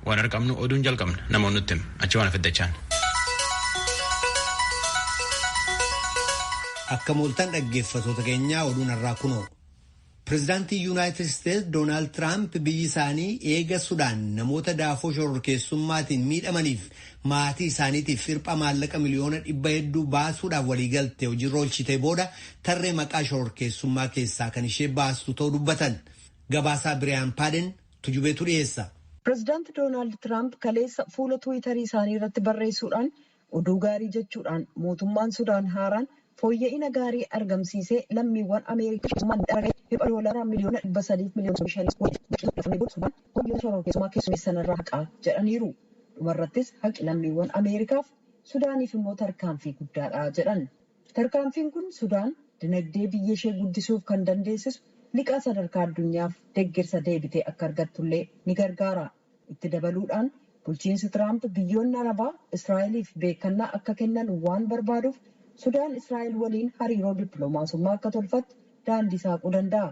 Waan arqabnu oduun jalqabna namoon nutti him achi waan afiddachaan. Akka mooltan dhaggeeffatoota keenyaa oduun har'aa kunoo. Pireezidaantiin Yuunaayitid Isteetsi Doonaald Tiraamp biyyi isaanii eega Sudaan namoota daafoo shororkeessummaatiin miidhamaniif maatii isaaniitiif hirpha maallaqa miliyoona dhibba hedduu baasuudhaaf waliigalte hojiirra oolchitee booda tarree maqaa shororkeessummaa keessaa kan ishee baastu ta'uu dubbatan. Gabaasaa Biriyaan Paaden Tujubeetu dhiyeessa. Pirezidaanti Doonaald Tiraamp kaleessa fuula Tiwiitarii isaanii irratti barreessuudhaan oduu gaarii jechuudhaan mootummaan Sudaan haaraan fooyya'ina gaarii argamsiisee lammiiwwan Ameerikaa shororkeessummaan miidhaman irra deebi'uun doolaara miliyoona dhibba sadii fi miliyoona soddomii shaniin ol liqii liqeeffamee booda Sudaan wayyoo shororkeessummaa keessummeessan irraa haqaa jedhaniiru. Dhumarrattis haqi lammiiwwan Ameerikaaf Sudaaniif immoo tarkaanfii guddaadha jedhan. Tarkaanfiin kun Sudaan dinagdee biyyashee guddisuuf kan dandeessisu liqaa sadarkaa addunyaaf deggersa deebitee akka argattullee ni gargaara. Itti dabaluudhaan bulchiinsi Tiraamp biyyoonni Arabaa Israa'eliif beekkannaa akka kennan waan barbaaduuf Sudaan Israa'el waliin hariiroo dippilomaasummaa akka tolfattu daandii saaquu danda'a.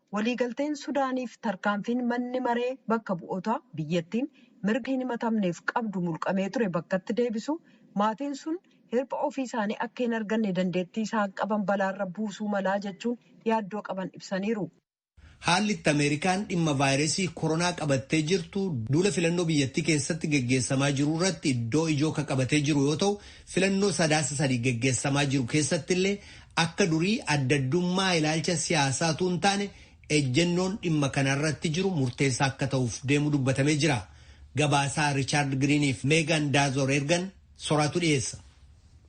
Waliigalteen Sudaaniif tarkaanfiin manni maree bakka bu'ootaa biyyattiin mirga hin himatamneef qabdu mulqamee ture bakkatti deebisuu, maatiin sun hirpha ofii isaanii akka hin arganne dandeettii isaan qaban balaarra buusuu malaa jechuun yaaddoo qaban ibsaniiru. Haalli itti Ameerikaan dhimma vaayirasii koronaa qabattee jirtu duula filannoo biyyattii keessatti geggeessamaa jiru irratti iddoo ijoo ka qabatee jiru yoo ta'u, filannoo Sadaasa 3 geggeessamaa jiru keessattillee Akka durii addaddummaa ilaalcha siyaasaa utuu hin taane ejjennoon dhimma kana irratti jiru murteessaa akka ta'uuf deemu dubbatamee jira. Gabaasaa Richaard Giriiniif Meegaan Daazoor ergan soraatu dhiyeessa.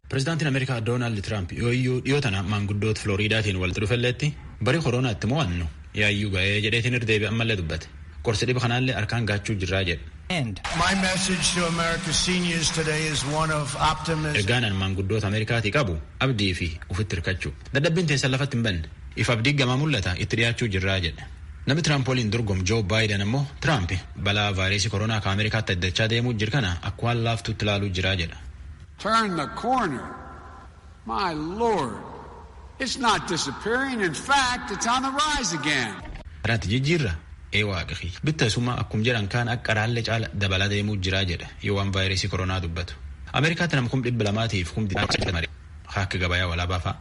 Pirezidaantiin Ameerikaa Doonaald Tiraamp yooyyuu dhiyoo tana maanguddoota Filooriidaatiin walitti dhufelleetti bari koroonaa itti mo'annu yaayyuu ga'ee jedheetiin irra deebi'e ammallee dubbate. Qorsi dhiba kanaallee harkaan gaachuu jirraa jedhe. and. My message to America's seniors today is one of optimism. Ergaan an maanguddoota Ameerikaatii qabu abdii fi ufitti hirkachuu. Dadhabbiin teessan lafatti hin banne. If abdii gamaa mul'ata itti dhiyaachuu jirraa jedhe. Namni Tiraamp waliin dorgomu Joo Baayidan ammoo Tiraamp balaa vaayireesii koronaa ka Ameerikaatti addachaa deemuu jir kana akka waan laaftuutti ilaaluu jiraa jedha. Turn the corner. My Lord! It's not disappearing, in fact, it's on the rise again! Irratti jijjiirra? Ee Waaqa kiyya! Bitta isumaa akkum jedhan kaan akka qaraallee caala dabalaa deemuu jira jedha yoo waan vaayiresii koronaa dubbatu. Ameerikaatti nam kum dhibba lamaa tiif kum digdamii saddeet mare ka akka gabayaa walaabaa fa'a.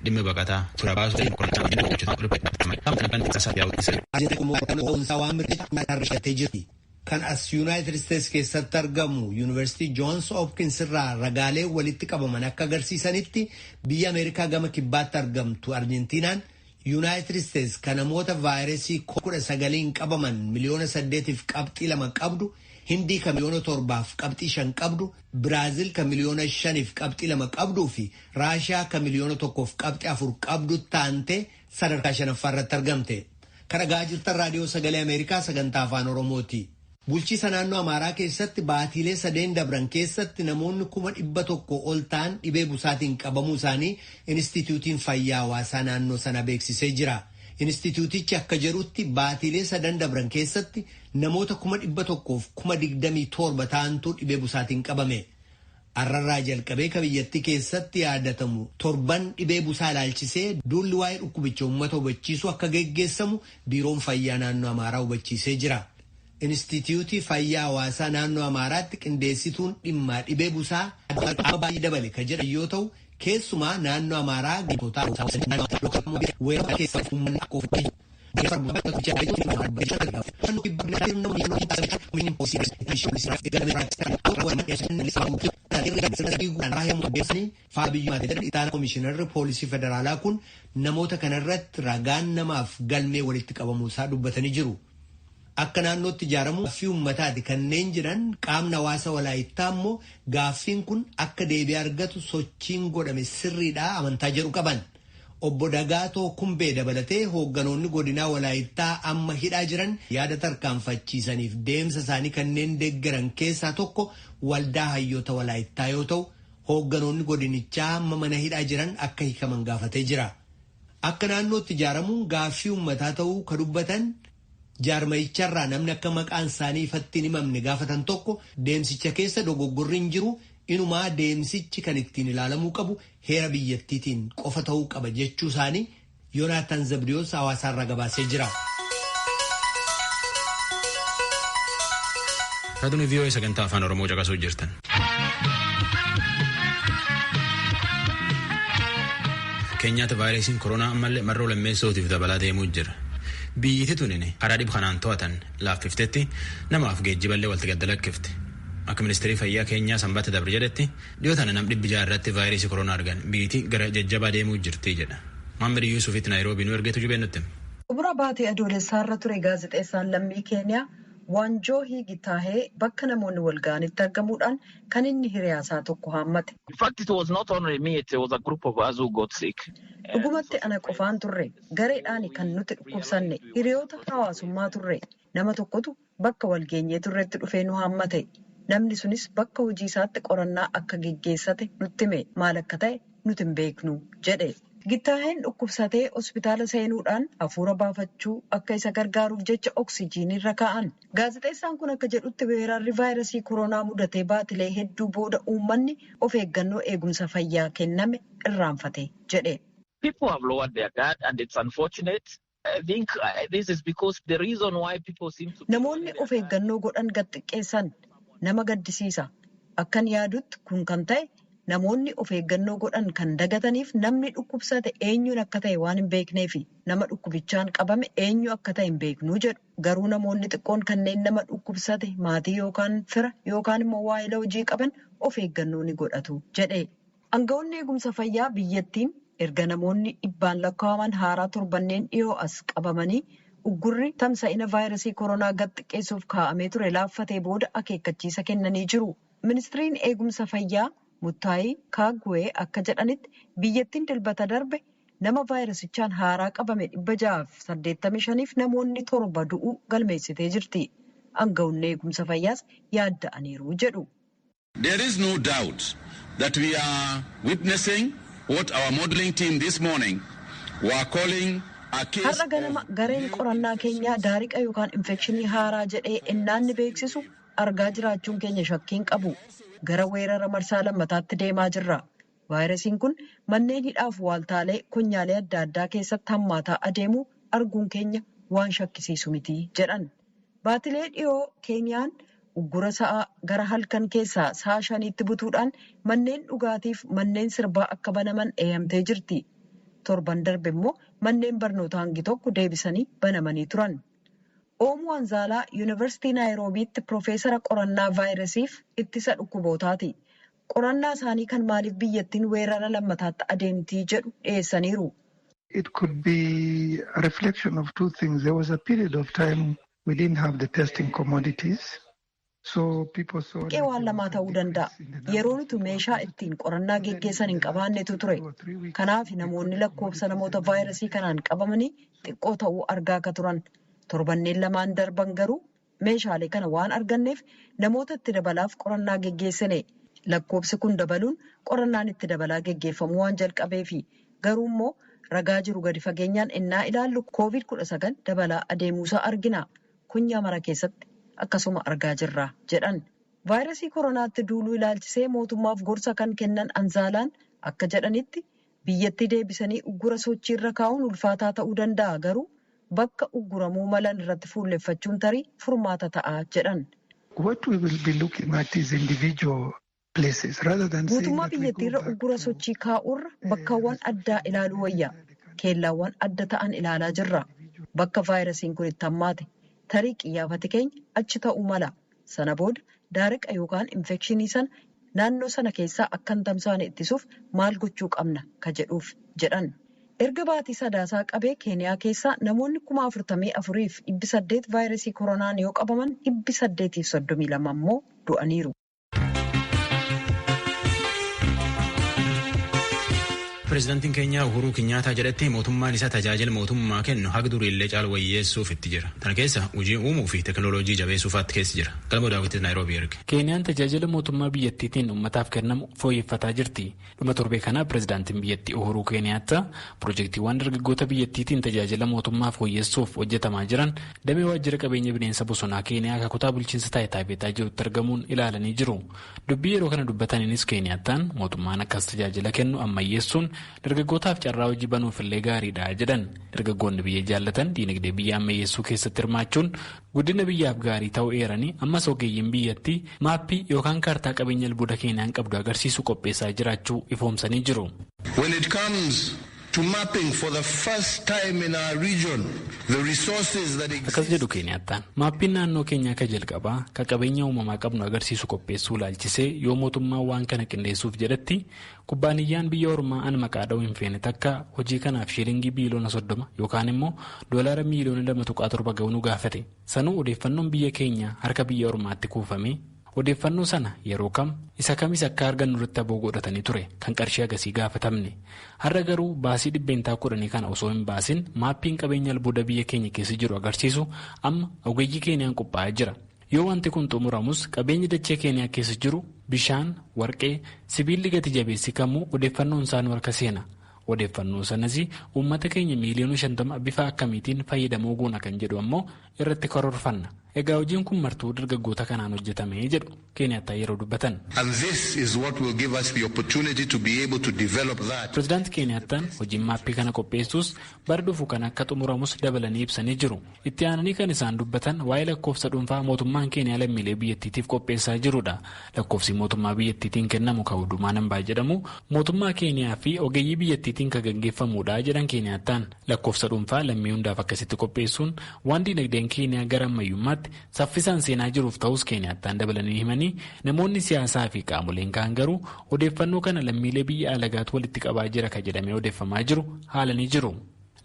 Dhimmi baqataa, fira baasuu fi qorannaa waliin hojjetamaa ture. Dhaabbata Addunyaa Baqataa Addunyaa Saafi Yaa'u Dhiisaa Jedhu. Hojjetaan Mootummaa Boonsaa Waan Mirkaneessuuf Mataarra Hidhattee Jirti. Kan as Yunaayitid Isteets keessatti argamu Yunivarsiitii Joons Hopkins irraa ragaalee walitti qabaman akka agarsiisanitti biyya Ameerikaa gama kibbaatti argamtu Arjentiinaan Yunaayitid Isteets kan namoota vaayiresii kudha sagaliin qabaman miliyoona saddeetiif qabxii lama qabdu, Hindii kan miliyoona torbaaf qabxii shan qabdu, Biraazil kan miliyoona shaniif qabxii lama qabduu fi Raashiyaa kan miliyoona tokkoof qabxii afur qabdutti aantee sadarkaa 5ffaa irratti argamte. Kan dhaga'aa jirtan Raadiyoo Sagalee Ameerikaa sagantaa Afaan Oromooti. Bulchiisa naannoo Amaaraa keessatti baatiilee sadeen dabran keessatti namoonni kuma dhibba tokko ol ta'an dhibee busaatiin qabamuu isaanii Inistiitiyuutiin Fayyaa Hawaasaa naannoo sana beeksisee jira. Inistiitiyuutichi akka jedhutti baatiilee sadan dabran keessatti namoota kuma dhibba tokkoof kuma digdamii torba ta'antu dhibee busaatiin qabame. Har'arraa jalqabee ka biyyattii keessatti yaadatamu torban dhibee busaa ilaalchisee duulli waa'ee dhukkubicha uummata hubachiisuu akka geggeessamu Biiroon Fayyaa Naannoo Amaaraa hubachiisee jira. Instiitiyuutii Fayyaa Hawaasaa Naannoo Amaaraatti qindeessituun dhimmaa dhibee busaa Aadde Baay'ee Dabale ka jedhan yoo ta'u, keessumaa naannoo Amaaraa ganda Gintootaa, Aruusaa, Wasanni, Naannoo Amaaraa, Lookoo Dammoo fi Weeroo kana keessaa uummanni akka of eeggatu. Komishinarri poolisii federaalaa kun namoota kana irratti ragaan namaaf galmee walitti qabamuu isaa dubbatanii jiru. Akka naannootti ijaaramuu gaaffii uummataati kanneen jedhan qaamni hawaasa walaayittaa immoo gaaffiin kun akka deebii argatu sochiin godhame sirriidhaa amantaa jedhu qaban. Obbo Dagaatoo Kumbee dabalatee hoogganoonni godinaa Walaayittaa amma hidhaa jiran yaada tarkaanfachiisaniif deemsa isaanii kanneen deggeran keessaa tokko Waldaa Hayyoota Walaayittaa yoo ta'u, hoogganoonni godinichaa amma mana hidhaa jiran akka hikaman gaafatee jira. Akka naannootti ijaaramuun gaaffii uummataa ta'uu ka dubbatan jaarmayicharraa namni akka maqaan isaanii ifatti hin himamne gaafatan tokko deemsicha keessa dogoggorri hin jiru, inumaa deemsichi kan ittiin ilaalamuu qabu heera biyyattiitiin qofa ta'uu qaba jechuu isaanii Yonaataan Zabdiyoos hawaasaarraa gabaasee jira. Raadiyoo VOA sagantaa afaan Oromoo caqasuu jirtan. Keenyaatti vaayirasiin koronaa ammallee marroo lammeessootiif dabalaa deemuu jira. Biyyiti tunin karaa dhib kanaan to'atan laaffiftetti namaaf geejjiballee walti gadda lakkifte. Akka ministeerii fayyaa keenyaa sanbata dabre jedhetti Dhiyoo tana nam dhibbi ja'a irratti vaayirasii koronaa argan. Biyyiti gara jajjabaa deemuu jirti jedha. Mohammed Yusufitti Naayiroobii nu erge Tujubeen nutti hima. Xumura baatii Adoolessaa irra ture gaazexeessaan lammii Keeniyaa Waanjoohii Gitaahee bakka namoonni wal ga'anitti argamuudhaan kan inni hiriyaa isaa tokko haammate. Dhugumatti ana qofaan turre. Gareedhaani kan nuti dhukkubsanne. Hiriyoota hawaasummaa turre. Nama tokkotu bakka wal geenyee turretti dhufee nu haammate. Namni sunis bakka hojii isaatti qorannaa akka geggeessate nutti hime. Maal akka ta'e nuti hin beeknu, jedhe. Gittaaheen dhukkubsatee hospitaala seenuudhaan hafuura baafachuu akka isa gargaaruuf jecha oksijiinii irra kaa'an. Gaazexeessaan kun akka jedhutti weerarri vaayirasii koronaa mudatee baatilee hedduu booda uummanni of eeggannoo eegumsa fayyaa kenname irraanfate, jedhe. Namoonni of eeggannoo godhan gad xiqqeessan. Nama gaddisiisa. Akkan yaadutti kun kan ta'e namoonni of eeggannoo godhan kan dagataniif namni dhukkubsate eenyuun akka ta'e waan hin beekneefi. Nama dhukkubichaan qabame eenyu akka ta'e hin beeknu jedhu. Garuu namoonni xiqqoon kanneen nama dhukkubsate maatii yookaan fira yookaan immoo waayila hojii qaban of eeggannoo ni godhatu jedhe. Angawoonni eegumsa fayyaa biyyattiin erga namoonni dhibbaan lakkaa'aman haaraa torbanneen dhiyoo as qabamanii uggurri tamsa'ina vaayrasii koronaa gad xiqqeessuuf kaa'amee ture laaffatee booda akeekkachiisa kennanii jiru. Ministriin eegumsa fayyaa Muttaayii Kaagwee akka jedhanitti biyyattiin Dilbata darbe nama vaayrasichaan haaraa qabame 685f namoonni torba du'uu galmeessitee jirti. Angawonni eegumsa fayyaas yaadda'aniiru jedhu. There is no doubt that we are witnessing what our modeling team this morning were calling a case Har'a ganama of gareen new qorannaa keenyaa infections. daariqa yookaan infekshinii haaraa jedhee ennaan ni beeksisu argaa jiraachuun keenya shakkiin qabu. Gara weerara marsaa lammataatti deemaa jirra. Vaayirasiin kun manneen hidhaaf waaltaalee konyaalee adda addaa keessatti hammaataa adeemuu arguun keenya waan shakkisiisu miti jedhan. Baatilee dhiyoo Keeniyaan uggura sa'a gara halkan keessaa sa'a shaniitti butuudhaan manneen dhugaatiif manneen sirbaa akka banaman eeyamtee jirti. Torban darbe immoo manneen barnootaa hangi tokko deebisanii banamanii turan. Oomu Wanzaalaa Yunivarsitii Naayiroobiitti pirofeesara qorannaa vaayirasiif ittisa dhukkubootaati. Qorannaa isaanii kan maaliif biyyattiin weerara lammataatti adeemti jedhu dhiyeessaniiru. It could be a reflection of two things. There was a period of time we didn't have the testing commodities. So people saw Hanqee waan lamaa ta'uu danda'a. Yeroo nuti meeshaa ittiin qorannaa geggeessan hin qabaannetu ture. Kanaaf namoonni lakkoofsa namoota vaayirasii kanaan qabamanii xiqqoo ta'uu argaa akka turan. Torbanneen lamaan darban garuu Meeshaalee kana waan arganneef namoota itti dabalaaf qorannaa geggeessine. Lakkoobsi kun dabaluun qorannaan itti dabalaa geggeeffamuu waan jalqabeefi. Garuu immoo ragaa jiru gadi fageenyaan ennaa ilaallu Covid 19 dabalaa adeemuusaa argina. Konyaa mara keessatti akkasuma argaa jirra, jedhan. Vaayirasii koronaatti duuluu ilaalchisee mootummaaf gorsa kan kennan Anzaalaan akka jedhanitti, Biyyattii deebisanii uggura sochii irra kaa'uun ulfaataa ta'uu danda'a garuu bakka ugguramuu malan irratti fuulleffachuun tarii furmaata ta'a jedhan. Guutummaa biyyattiirra uggura sochii kaa'uurra bakkawwan addaa ilaaluu wayya. Keellaawwan adda ta'an ilaalaa jirra. Bakka vaayirasiin kun itti hammaate. Tarii qiyyaafati keenya achi ta'uu mala. Sana booda daariqa yookaan infekshinii sana naannoo sana keessaa akka hin tamsaane ittisuuf maal gochuu qabna ka jedhuuf jedhan. Erga baatii Sadaasaa qabee Keeniyaa keessaa namoonni 44,800 vaayirasii koronaan yoo qabaman 832 immoo du'aniiru. Pireezidantiin Keenyaa Uhuruu Kinyaataa jedhetti mootummaan isaa tajaajila mootummaa kennu haga duriillee caalu wayyeessuuf itti jira. Tana keessa hojii uumuu fi teekinooloojii jabeessuu fa'aatti keessa jira. Galmoo Daawwitiis Naayiroobii erge. Keeniyaan tajaajila mootummaa biyyattiitiin ummataaf kennamu fooyyeffataa jirti. Dhuma torbee kana pireezidantiin biyyattii Uhuruu Keeniyaattaa pirojektiiwwan dargaggoota biyyattiitiin tajaajila mootummaa fooyyessuuf hojjetamaa jiran damee waajjira qabeenya bineensa bosonaa Keeniyaa ka kutaa bulchiinsa Taayitaabeetaa jirutti argamuun ilaalanii jiru. Dubbii yeroo kana dubbataniinis Keeniyaattaan mootummaan akkas tajaajila kennu ammayyeessuun dargaggootaaf carraa hojii banuufillee gaariidha jedhan. Dargaggoonni biyya jaallatan diinagdee biyya ammayyeessuu keessatti hirmaachuun guddina biyyaaf gaarii ta'uu eeranii ammas ogeeyyiin biyyattii maappii yookaan kaartaa qabeenya albuuda Keeniyaan qabdu agarsiisu qopheessaa jiraachuu ifoomsanii jiru. to mapping for the first time in our region the resources that Akkas exist. jedhu Keeniyaattaan. Maappiin naannoo keenyaa ka jalqabaa ka qabeenya uumamaa qabnu agarsiisu qopheessuu ilaalchisee yoo mootummaan waan kana qindeessuuf jedhetti kubbaaniyyaan biyya ormaa an maqaa dha'uu hin feene takka hojii kanaaf shiilingii biiliyoona soddoma yookaan immoo doolaara miiliyoona lama tuqaa torba ga'u nu gaafate. Sanuu odeeffannoon biyya keenyaa harka biyya ormaatti kuufamee Odeeffannoo sana yeroo kam, isa kamis akka argannu irratti aboo godhatanii ture kan qarshii hagasii gaafatamne. Har'a garuu baasii dhibbeentaa kudhanii kana osoo hin baasin maappiin qabeenya albuuda biyya keenya keessa jiru agarsiisu amma ogeeyyii Keeniyaan qophaa'ee jira. Yoo wanti kun xumuramus qabeenyi dachee Keeniyaa keessa jiru bishaan, warqee, sibiilli gati jabeessi kamuu odeeffannoon isaa nu harka seena. Odeeffannoo sanas uummata keenya miiliyoona shantama bifa akkamiitiin fayyadamoo goona kan jedhu ammoo irratti karoorfanna. Egaa hojiin kun martuu dargaggoota kanaan hojjetame jedhu Keeniyaattaan yeroo dubbatan. Pirezidaanti Keeniyaattaan hojiin maappii kana qopheessuus bara dhufu kan akka xumuramus dabalanii ibsanii jiru. Itti aananii kan isaan dubbatan waa'ee lakkoofsa dhuunfaa mootummaan Keeniyaa lammiilee biyyattiitiif qopheessaa jirudha. Lakkoofsi mootummaa biyyattiitiin kennamu kan Hudumaa Nambaa jedhamu mootummaa Keeniyaa fi ogeeyyii biyyattiitiin kan gaggeeffamudha jedhan Keeniyaattaan. Lakkoofsa dhuunfaa lammii hundaaf akkasitti qopheessuun waan diinagdeen Keeniyaa gara ammayyummaatti saffisaan seenaa jiruuf ta'uus Keeniyaattaan dabalanii himanii, namoonni siyaasaa fi qaamoleen kaan garuu odeeffannoo kana lammiilee biyya alagaatu walitti qabaa jira ka jedhamee odeeffamaa jiru haalanii jiru.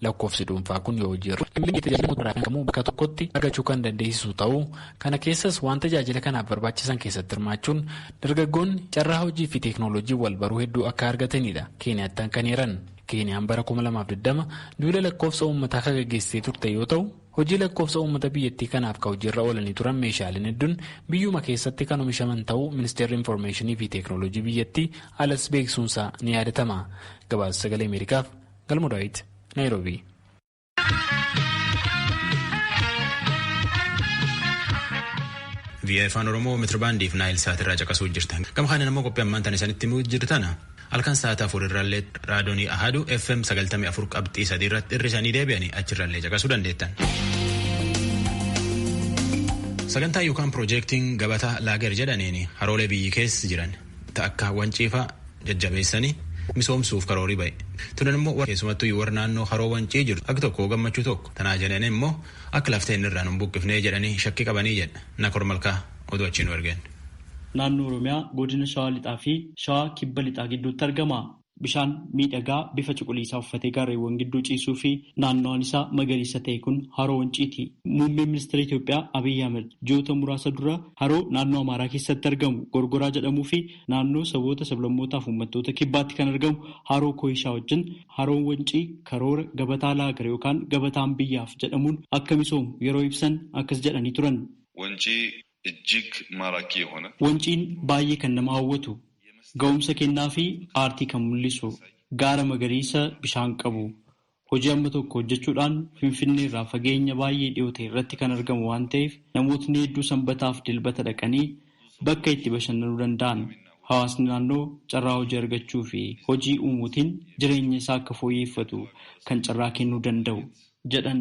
Lakkoofsi dhuunfaa kun yoo hojii irra oole lammiileen tajaajila mootummaa irraa kan kamuu bakka tokkotti argachuu kan dandeessisu ta'uu, kana keessas waan tajaajila kanaaf barbaachisan keessatti hirmaachuun dargaggoonni carraa hojii fi teeknooloojiin wal baruu hedduu akka argataniidha Keeniyaattaan kan eeran. Keeniyaan bara 2020 duula lakkoofsa uummataa ka gaggeessitee turte yoo ta'u, hojii lakkoofsa uummata biyyattii kanaaf ka hojiirra oolanii turan meeshaaleen hedduun biyyuma keessatti kan omishaman ta'uu Ministeerri Infoormeeshinii fi Teeknooloojii biyyattii alas beeksisuunsaa ni yaadatama. Gabaasa Sagalee Ameerikaaf Galmoo Daawit, Naayiroobii. Vii'ee afaan Oromoo mitiribaandiif naayil saatirraa caqasuu jirtan. Gama kanaan immoo qophii ammaan tan isanitti himuu jirtan halkan sa'aatii afur irraallee raadiyoonii Ahaduu FM sagaltamii afur qabxii sadii irratti irri isanii deebi'anii achirraallee caqasuu dandeettan. Sagantaa yookaan piroojeektiin gabataa laager jedhaniin haroolee biyyi keessa jiran ta akka Wancii faa jajjabeessanii misoomsuuf karoorii ba'e. Tunan immoo warra keessumattuu warra naannoo haroo Wancii jirtu hagi tokko gammachuu tokko tanaa jedhanii immoo akka lafti teenna irraa nu hin buqqifnee jedhanii shakkii qabanii jedha Nakor Malkaa oduu achii nu ergeen. Naannoo Oromiyaa godina Shawaa Lixaa fi Shawaa Kibba Lixaa gidduutti argama. Bishaan miidhagaa bifa cuquliisaa uffatee gaarreewwan gidduu ciisuu fi naannawaan isaa magariisa ta'e kun Haroo Wanciiti. Muummeen Ministira Itoophiyaa Abiy Ahimad ji'oota muraasa dura haroo naannoo Amaaraa keessatti argamu Gorgoraa jedhamuu fi naannoo saboota, sablammootaa fi uummattoota Kibbaatti kan argamu Haroo Kooyishaa wajjin Haroon Wancii karoora Gabataa Laagar yookaan Gabataan Biyyaaf jedhamuun akka misoomu yeroo ibsan akkas jedhanii turan. Wancii እጅግ ማራኪ የሆነ። Wanciin baay'ee kan nama hawwatu, ga'umsa kennaa fi aartii kan mul'isu, gaara magariisa bishaan qabu, hojii amma tokko hojjechuudhaan Finfinnee irraa fageenya baay'ee dhiyoo ta'e irratti kan argamu waan ta'eef namootni hedduu Sanbataa fi Dilbata dhaqanii bakka itti bashannanuu danda'an. Hawaasni naannoo carraa hojii argachuu fi hojii uumuutiin jireenya isaa akka fooyyeeffatu kan carraa kennuu danda'u jedhan.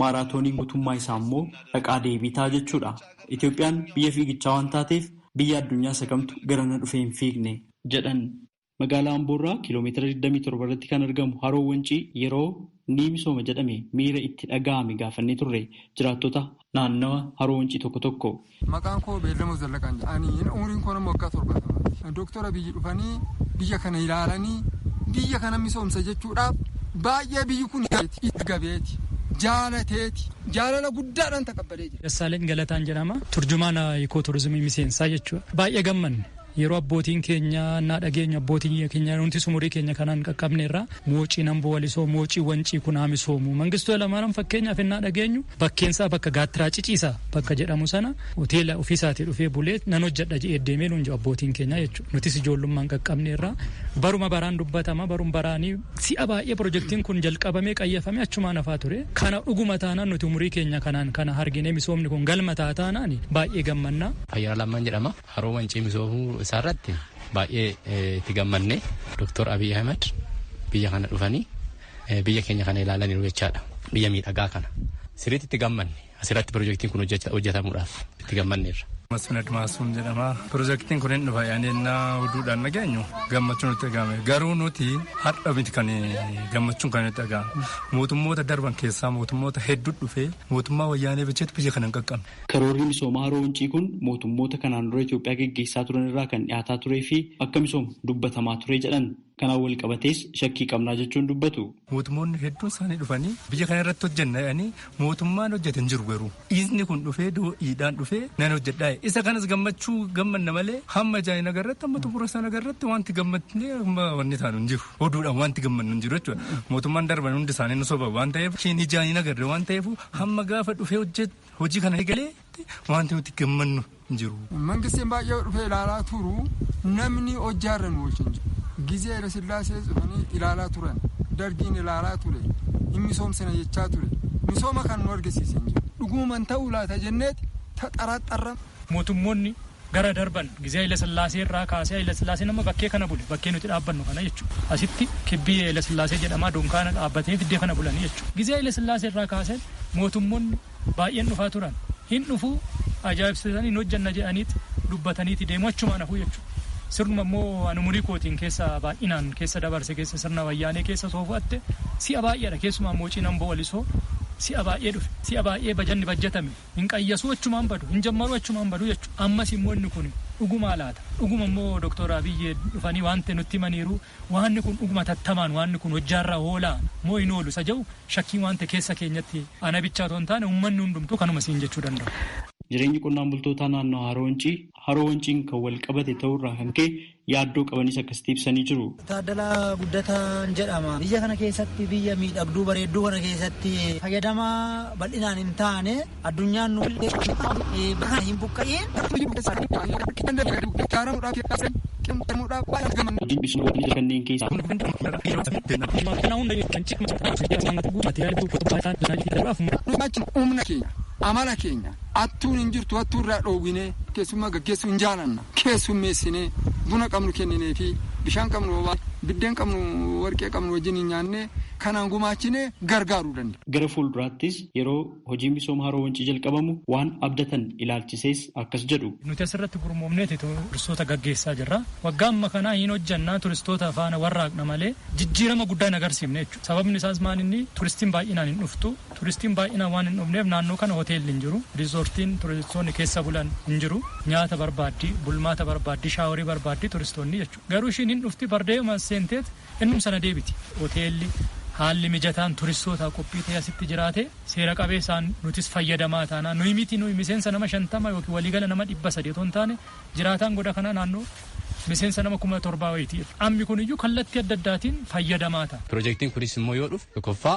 Maaraatooniin gutummaa isaa immoo dhaqaa deebii ta'a jechuudha. Itoophiyaan biyya fiigichaa waan taateef biyya addunyaa isa kamtu garana dhufee hin fiigne? jedhan. Magaalaa Amboo irraa kiiloomeetira digdamii torba irratti kan argamu Haroo Wancii yeroo ni misooma jedhame miira itti dhaga'ame gaafannee turre jiraattota naannawa Haroo Wancii tokko tokko. Maqaan koo Beellamoo Zallaqaan jedha. Ani umriin koo nama waggaa torbaatamaati. Dooktar Abiyyi dhufanii biyya kana ilaalanii biyya kana misoomsa jechuudhaaf baay'ee biyyi kun itti gabeeti. Jaalateeti. Jaalala guddaadhaan taqabbalee jira. Dassaaleny Galataan jedhama. Turjumaana Ikoo Turizimii Miseensaa jechuudha. Baay'ee gammanne. Yeroo abbootiin keenya naa dhageenyu abbootiin keenya nutis umurii keenya kanaan qaqqabneerra moociin amboo walisoo moocii wancii kun haa misoomu mangistuu halamaaram fakkeenyaaf innaa dhageenyu bakkeensaa bakka gaattiraa ciciisa bakka jedhamu sana hoteela ofiisaatii dhufee bulee nan hojjedha jedhee deemee nuun jiru abbootiin keenya jechuudha nutis ijoollummaan qaqqabneerra baruma baraan dubbatama barum baraanii si'a baay'ee pirojektiin kun jalqabamee qayyafamee achumaan hafaa ture kana dhuguma taanaan nuti umurii keenya kanaan kana arginee misoomni kun galma ta'a taanaan baay'ee gammannaa. Ayyala Lammaan jedhama. Haroo Wancii misoomuu isaarratti baay'ee itti gammadne. Doktor Abiy Ahmed biyya kana dhufanii biyya keenya kana ilaalaniiru jechaadha. Biyya miidhagaa kana. Sirriitti itti gammanne. Asirratti pirojektiin kun hojjetamuudhaaf itti gammanneerra. Masfin Admaasuun jedhama. Pirojektiin kun hin dhufa yaadni ennaa oduudhaan dhageenyu gammachuun nutti dhaga'ame. Garuu nuti har'a miti kan gammachuun kan nutti dhaga'ame. Mootummoota darban keessaa mootummoota hedduu dhufee mootummaa wayyaanee bilcheetu biyya kana hin qaqqabne. Karoorri misoomaa Haroo Wancii kun mootummoota kanaan dura Itoophiyaa geggeessaa turan irraa kan dhiyaataa turee fi akka misoomu dubbatamaa ture jedhan. Kanaan walqabatees shakkii qabnaa jechuun dubbatu. Mootummoonni hedduun isaanii dhufanii biyya kana irratti hojjenna jedhanii mootummaan hojjete hin jiru garuu. Dhiisni kun dhufee do'iidhaan dhufee nan hojjedhaa jedhe. Isa kanas gammachuu gammanna malee hamma ijaan hin agarretti hamma xumura isaan agarretti wanti gammadnee hamma wanni taanu hin jiru. Oduudhaan wanti gammannu hin jiru jechuudha. Mootummaan darban hundi isaanii nu soba waan ta'eef isheen ijaan hin agarre waan ta'eef hamma gaafa dhufee hojjetu Hojii kana eegaleetti wanti nuti gammannu hin jiru. Mangistiin baay'ee dhufee ilaalaa turu namni hojjaarra nu oolchin jiru. Gizee Hayila Sillaasee dhufanii ilaalaa turan. Dargiin ilaalaa ture. Hin misoomsina jechaa ture. Misooma kan nu argisiise hin jiru. Dhuguman ta'uu laata jenneeti taxaraxarra. Mootummoonni Gara darban gizee Hayilasillaasee irraa kaasee Hayilasillaaseen amma bakkee kana bule bakkee nuti dhaabbannu kana jechuudha. Asitti kibbii Hayilasillaasee jedhamaa dunkaana dhaabbatee fiddee kana bulanii jechuudha. Gizee Hayilasillaasee irraa kaasee mootummonni baay'een dhufaa turan hin dhufuu ajaa'ibsiisanii hin hojjanna jedhaniiti dubbataniiti deemu achumaan hafuu jechuudha. Sirnuma immoo ani umurii kootiin keessa baay'inaan keessa dabarse keessa sirna wayyaanee keessa soo fudhatte si'a baay'eedha keessumaa moocii namboo walisoo si'a baay'ee dhufe si'a baay'ee bajanni bajjatame Hin qayyasuu achumaan badu, hin jammaruu achumaan badu jechuudha. Ammas immoo inni kun dhugumaa laata? Dhuguma immoo Doktar Abiy dhufanii waanti nutti himaniiru waanni kun dhuguma hatattamaan waanni kun hojjaarra oolaa moo hin oolu isa jedhu shakkiin waan ta'e keessa keenyatti ana bichaa otoo hin taane uummanni hundumtuu kanuma siin jechuu danda'u. Jireenyi qonnaan bultootaa naannoo Haroo Wancii, Haroo Wanciin kan wal qabate ta'uu irraa kan ka'e yaaddoo qabanis akkasitti ibsanii jiru. Taaddalaa Guddataan jedhama. Biyya kana keessatti biyya miidhagduu bareedduu kana keessatti fayyadama bal'inaan hin taane addunyaan nu bakka hin buqqa'iin. Hojiin misooma guddicha kanneen keessaa. Amala keenya. Hattuun hin jirtu, hattuu irraa dhoowwinee, keessummaa gaggeessuu hin jaalanna. Keessummeessinee, buna qabnu kennineefii, bishaan qabnu obaasnee, biddeen qabnu warqee qabnu wajjiniin nyaannee, kanaan gumaachinee gargaaruu dandeenya. Gara fuulduraattis yeroo hojiin misooma Haroo Wancii jalqabamu waan abdatan ilaalchisees akkas jedhu. Nuti asirratti gurmoomneeti turistoota gaggeessaa jirra. Waggaa amma kanaa hin hojjenna, turistoota faana warraaqna malee jijjiirama guddaa hin agarsiifne jechuudha. Sababni isaas maalinni turistiin baay'inaan hin dhuftu. Turistiin baay'inaan waan hin dhufneef naannoo kana hoteelli hin jiru. Riizoortiin turistoonni keessa bulan hin jiru. Nyaata barbaaddi, bulmaata barbaaddi, shaaworii barbaaddi turistoonni jechuudha. Garuu ishiin hin dhufti bardaa'eema as seenteet innum sana deebiti. Hoteelli haalli mijataan turistootaaf qophii ta'ee asitti jiraatee seera qabeessaan nutis fayyadamaa taanaa. Nuyi miti nuyi miseensa nama 50 ykn waliigala nama 300 otoo hin taane jiraataan goda kanaa naannoo miseensa nama 7000 wayiiti. Ammi kuniyyuu kallattii adda addaatiin fayyadamaa ta'a. Pirojektiin kunis immoo yoo dhufe tokkoffaa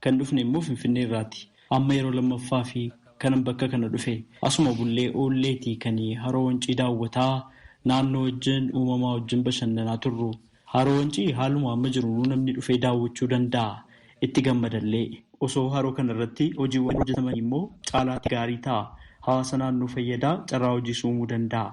Kan dhufne immoo Finfinnee irraati. Amma yeroo lammaffaafi kanan bakka kana dhufe. Asuma bullee oolleeti kan Haroo Wancii daawwataa, naannoo wajjin, uumamaa wajjin bashannanaa turru. Haroo Wancii haaluma amma jirunuu namni dhufee daawwachuu danda'a. Itti gammadallee. Osoo haroo kana irratti hojiiwwan hojjetamaniimmoo caalaatti gaarii ta'a. Hawaasa naannoo fayyada, carraa hojiis uumuu danda'a.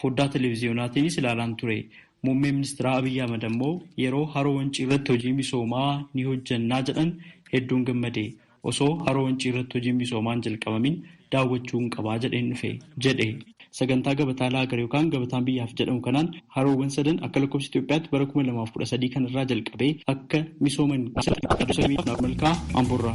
Foddaa televiziyonaatiinis ilaalaan ture. Muummeen ministiraa Abiy Ahmad ammoo yeroo Haroo Wancii irratti hojii misoomaa ni hojjannaa jedhan hedduun gammade. Osoo Haroo Wancii irratti hojiin misoomaa hin jalqabamin daawwachuun qaba jedheen dhufe, jedhe. Sagantaa Gabataa Laagar yookaan Gabataan Biyyaaf jedhamu kanaan haroowwan sadan akka lakkoofsa Itoophiyaatti bara kuma lamaa fi kudha sadii kana irraa jalqabee akka misooman Naakoor Malkaa Amboorraa.